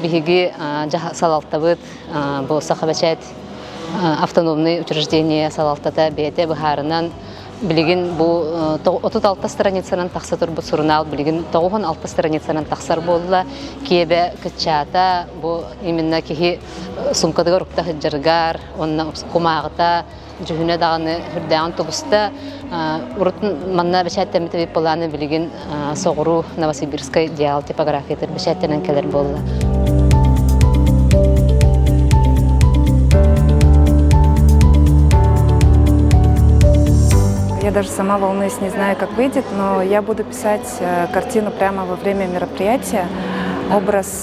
Биһиги салалтабыт бу Сахабэчээт автономный учреждение салалтата бэйэтэ быһаарынан билигин бу 36 страницанан тахса турбут сурунаал билигин 96 страницанан тахсар буолла киэбэ кыччаата бу именно киһи суумкатыгар укта сыдьаргар уонна кумааҕыта дьүһүнэ даҕаны үрдээҕин тубуста урут манна бэчээттэммит эбит былааны билигин соҕуруу новосибирскай диал типографиятыгар бэчээттэнэн кэлэр буолла Я даже сама волнуюсь, не знаю, как выйдет, но я буду писать картину прямо во время мероприятия, образ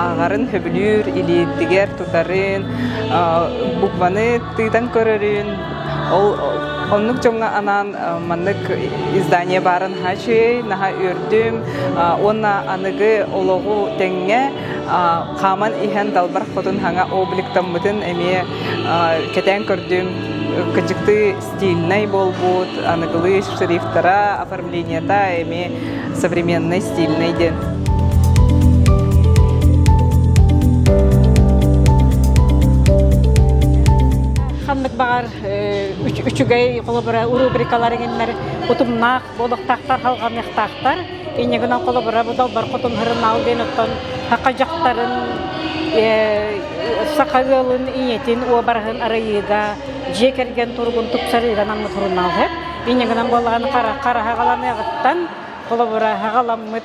ааҕарын сөбүлүүр, илиитигэр тутарын, букваны тыытан көрөрүн. Ол оннук дьоҥҥо анаан маннык издание баарын хаачыай, наһаа үрдүм уонна аныгы олоҕу тэҥҥэ хааман иһэн далбар хотун хаҥа обликтаммытын эмиэ кэтээн көрдүм, кыдьыктыы стильнай буолбут, аныгылыы шрифтара, оформлениета эмиэ современный, стильный диэн. ханнык баҕар үчүгэй холобура рубрикалар иҥиннэр утумнаах Бодохтоохтор халҕаныахтаахтар. Инньэ гынан холобура, бу Далбар Хотун Һырымаал диэн оттон Һака дьахтарын саха ыалын ийэтин уобараһын арыйыыга дьиэ кэргэн туругун тупсарыыга анаммыт сурунаалыһыт. Инньэ гынан буоллаҕына хараһаҕаланыаҕыттан холобура хаҕаламмыт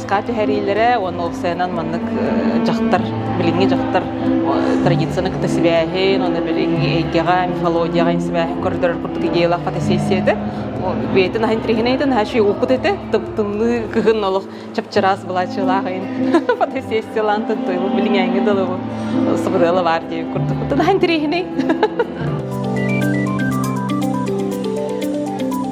спортка түһэриилэрэ уонна ол сайынан маннык дьахтар билиҥҥи дьахтар традицияны кытта сибээһин уонна билиҥҥи эйгэҕэ мифологияҕа сибээһин көрдөрөр курдук идеялаах фотосессиятэ бэйэтин аһын триһинэйтин хаачи уукут этэ тымтымныы кыһын олох чапчыраас былаачылаах ин фотосессиялаантын туйбу билиҥээҥҥи далыбу сыбырыала баар дии курдук тын аһын триһинэй